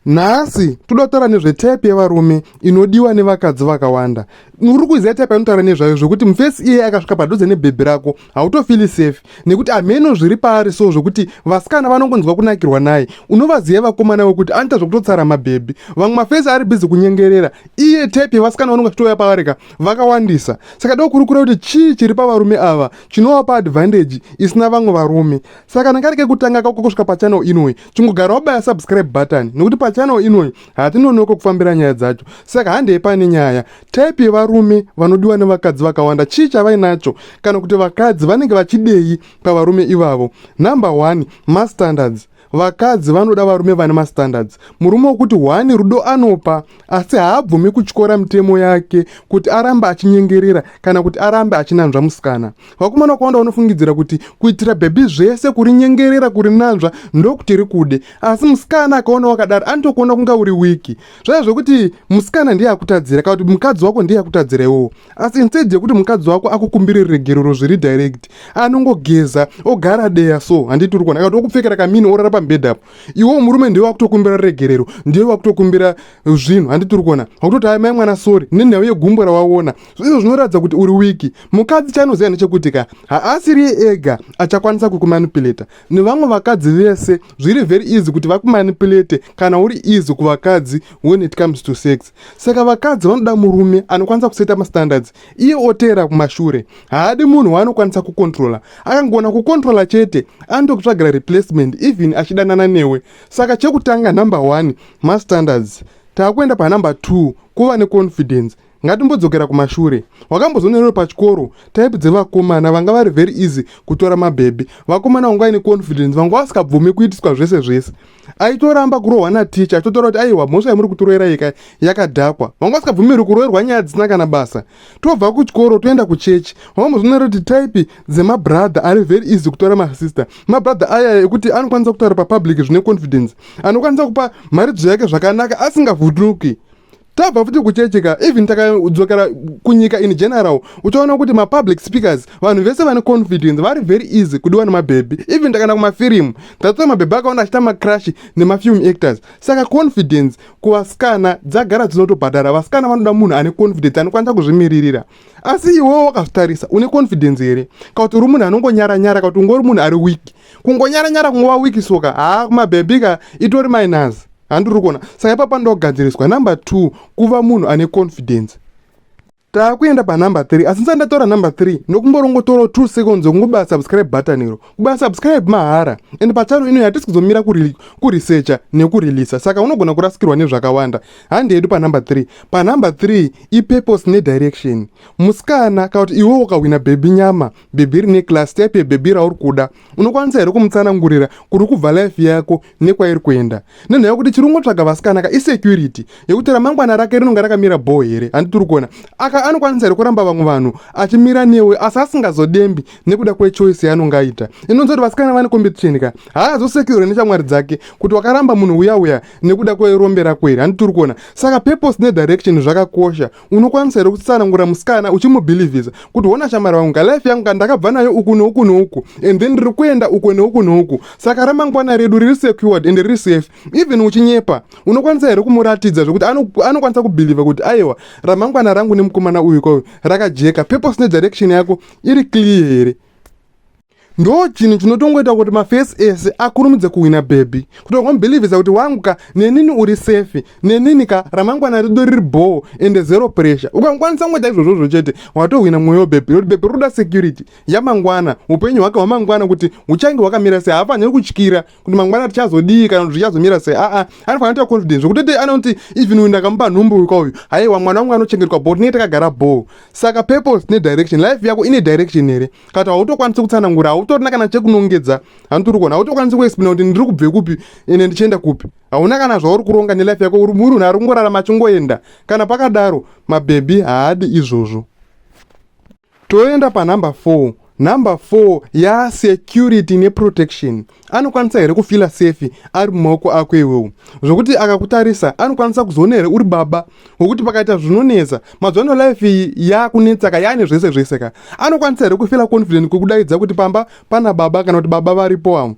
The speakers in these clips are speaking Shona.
nhasi toda kutaura nezvetype yevarume inodiwa nevakadzi vakawanda uri kuziva type anotaura nezvayo zvekuti mufesi iye akasvika padhuze nebhebhi rako hautofili safe nekuti hameno zviri paari so zvekuti vasikana vanongonzwa kunakirwa naye unovaziva vakomana wekuti anoita zvekutotsara mabhebhi vamwe mafesi ari bhizi kunyengerera iye type yevasikana vanonga chitouya paari ka vakawandisa saka dokurukura kuti chii chiri pavarume ava chinovapa advantage isina vamwe varume saka kana kari kekutanga kako kusvika pachanel inoyi chingogara wabaya subscribe button nekuti pachannel inoyi hatinonoko kufambira nyaya dzacho saka handei pane nyaya type yevarume vanodiwa nevakadzi vakawanda chii chavainacho kana kuti vakadzi vanenge vachidei pavarume ivavo number one mastandards vakadzi vanoda varume vane mastandards murume wokuti hwani rudo anopa asi haabvumi kutyora mitemo yake kuti arambe achinyengerera kana kuti arambe achinanzva musikana vakomana wakawanda vanofungidzira kuti kuitira bhebhi zvese kurinyengerera kurinanzva ndokuti rikude asi musikana akaona wakadaro anotokuona kunga uri wiki zvaya zvekuti musikana ndiye akutadzira kana kuti mukadzi wako ndiye akutadzira iwowo asi instead yekuti mukadzi wako akukumbire regerero zviri direct anongogeza ogara deya so handiti uri kuona kana kuti okupfekera kamini orara pamubhedha apo iwowo murume ndiwe wakutokumbira regerero ndiwe wakutokumbira zvinhu handiti uri kuona wakutoti aimai mwana sori nenhau yegumbo rawaona Zvizo zvinoratidza kuti uri wiki. Mukadzi chaanoziva ndechekuti ka haasiriye ega achakwanisa kukumanipuleta. Nevamwe vakadzi vese zviri very easy kuti vakumanipulete kana uri easy kuvakadzi when it comes to sex. Saka vakadzi vanoda murume anokwanisa kuseta mastandards iye oteera kumashure. Haadi munhu waanokwanisa kukontrola. Akangona kukontrola chete anotokutsvagira replacement even achidanana newe. Saka chekutanga number one mastandards. Takuenda panumber two kuva neconfidence. Ngatimbodzokera kumashure. Wakambozonerewo pachikoro type dzevakomana vanga vari very easy kutora mabhebhi. Vakomana vanga vaine confidence, vanga vasikabvume kuitiswa zvese zvese. Aitoramba kurohwa nateacher achitotaura kuti aiwa mhosva yamuri kutiroera yeka yakadhakwa. Vanga vasikabvumirwi kuroerwa nyaya dzisina kana basa. Tobva kuchikoro toenda kuchechi. Wakambozonerewo kuti type dzemabrother ari very easy kutora masister. Mabrother aya ekuti anokwanisa kutaura papublic zvine confidence. Anokwanisa kupa mharidzo yake zvakanaka asingavhunduki. tabva futi kuchechi ka even takadzokera kunyika in general uchaona kuti mapublic speakers vanhu vese vane confidence vari very easy kudiwa nemabhebhi even takaenda kumafirimu that's why mabhebhi akaona achita macrash nemafilm actors saka confidence kuvasikana dzagara dzinotobhadhara vasikana vanoda munhu ane confidence anokwanisa kuzvimiririra asi iwewo wakazvitarisa une confidence here ka kuti uri munhu anongonyara nyara ka kuti ungori munhu ari wiki kungonyara nyara kungova wiki soka haa kumabhebhi ka itori minus handiri kuona saka ipapa ndogadziriswa number two kuva munhu ane confidence taakuenda panumber three asi ndisati ndatora number three nokumborongotorawo two seconds yokungobaya subscribe button iro kubaya subscribe mahara and pachano ino hatisi kuzomira kuresearcha nekureleasa saka unogona kurasikirwa nezvakawanda handi yedu panumber three panumber three ipurpose nedirection musikana kana kuti iwewo ukahwina bhebhi nyama bhebhi rine class type yebhebhi rauri kuda unokwanisa here kumutsanangurira kuri kubva life yako nekwairi kuenda nenhaya yokuti chiri kungotsvaga vasikana ka isecurity yekuti ramangwana rake rinonga rakamira bho here handi tiri kuona aka anokwanisa here kuramba vamwe vanhu achimira newe asi asingazodembi nekuda kwechoice yaanonga aita inonzi kuti vasikana vane competition ka haazosecure neshamwari dzake kuti wakaramba munhu uya uya nekuda kwerombe rako here handi tiri kuona saka purpose nedirection zvakakosha unokwanisa here kutsanangura musikana uchimubhilivhisa kuti hona shamwari vangu nga life yangu ka ndakabva nayo uku neuku neuku and then ndiri kuenda uku neuku neuku saka ramangwana redu riri secured and riri safe even uchinyepa unokwanisa here kumuratidza zvekuti anokwanisa kubhilivha kuti aiwa ramangwana rangu nemukomana uyu kwauyu rakajeka purpose nedirection yako iri clear here ndo chinhu chinotongoita kuti mafesi ese akurumidze kuhwina bhebhi kutongomubilivhisa kuti wangu ka nenini uri sefi nenini ka ramangwana rido riri bhoo ende zero pressure ukangokwanisa kungoita izvozvozvo chete watohwina mwoyo webhebhi nekuti bhebhi rinoda security yamangwana upenyu hwake hwamangwana kuti huchange hwakamira sei haafaniri kutyira kuti mangwana tichazodii kana kuti zvichazomira sei aa ah, ah, anofanira kuita confidence zvekuti tete anoti even uyu ndakamupa nhumbu uyu kwauyu haiwa mwana wangu anochengetwa bho tinenge takagara bho saka purpose ne direction life yako ine direction here kana kuti hautokwanisi kutsanangura hautorina kana chekunongedza hanotiri kuona hautokwanisi kuexplaina kuti ndiri kubve kupi ende ndichienda kupi hauna kana zvauri kuronga nelife yako uri munhu ari kungorarama achingoenda kana pakadaro mabhebhi haadi izvozvo Toenda panumber 4. Number 4 ya security ne protection. Anokwanisa here kufila safe ari mumaoko ako iwewo zvokuti akakutarisa anokwanisa kuzoona here uri baba wokuti pakaita zvinonetsa mazwano life iyi yakunetsa ka yaane zvese zvese ka anokwanisa here kufila confident kwekudaidza kuti pamba pana baba kana kuti baba varipo avo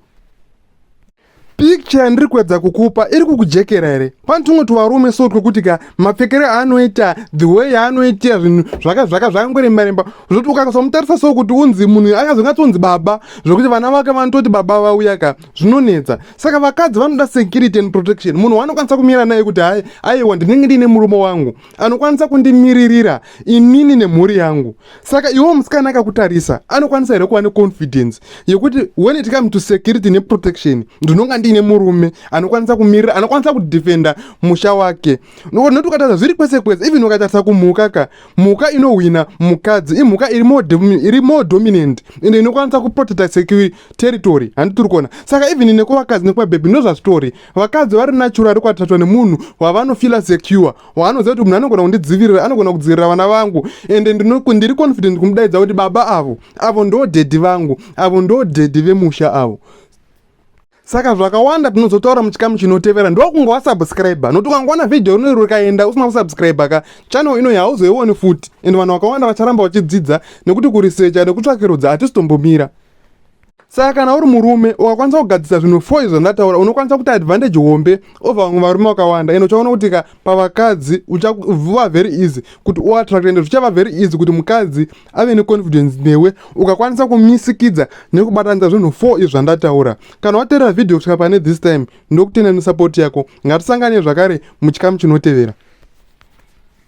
picture yandiri kuedza kukupa iri kukujekera here pane tumwe tuvarume so twekuti ka mapfekero aanoita the way yaanoitira zvinhu zvaka zvaka zvakangoremba remba zvoti ukasamutarisa so kuti unzi munhu akazongatonzi baba zvekuti vana vake vanototi baba vauya ka zvinonetsa saka vakadzi vanoda security and protection munhu waanokwanisa kumira naye kuti hai aiwa ndinenge ndiine murume wangu anokwanisa kundimiririra inini nemhuri yangu saka iwo musikana akakutarisa anokwanisa here kuva neconfidence yekuti when it come to security neprotection ndinonga ndiine murume anokwanisa kumirira anokwanisa kudefenda musha wake noti ukatarisa zviri kwese kwese even ukatarisa kumhuka ka mhuka inohwina mukadzi imhuka iri more dominant and inokwanisa kuprotecta security territory handitiri kuona saka even nekuvakadzi nekuvabhebhi ndozvazvitori vakadzi vari natural vari kwatatwa nemunhu wavanofila secure waanoziva kuti munhu anogona kundidzivirira anogona kudzivirira vana vangu ende ndiri confident kumudaidza kuti baba avo avo ndo dhedhi vangu avo ndo dhedhi vemusha avo saka zvakawanda tinozotaura muchikamu chinotevera ndokunge wasubscribe nokuti ukangoona vhidhiyo rinori rikaenda usina kusubscribe ka channel inoyi hauzoioni futi and vanhu vakawanda vacharamba vachidzidza nekuti kurisecha nekutsvakirudza hatisi tombomira saka kana uri murume ukakwanisa kugadzisa zvinhu fo izvo zvandataura unokwanisa kuita advantage hombe ova vamwe varume vakawanda ende uchaona kuti ka pavakadzi uchava very easy kuti uattract ende zvichava very easy kuti mukadzi ave neconfidence newe ukakwanisa kumisikidza nekubatanidza zvinhu fo izvo zvandataura kana waterera vhidhiyo kusvika pane this time ndokutenda nesupport yako ngatisangane zvakare muchikamu chinotevera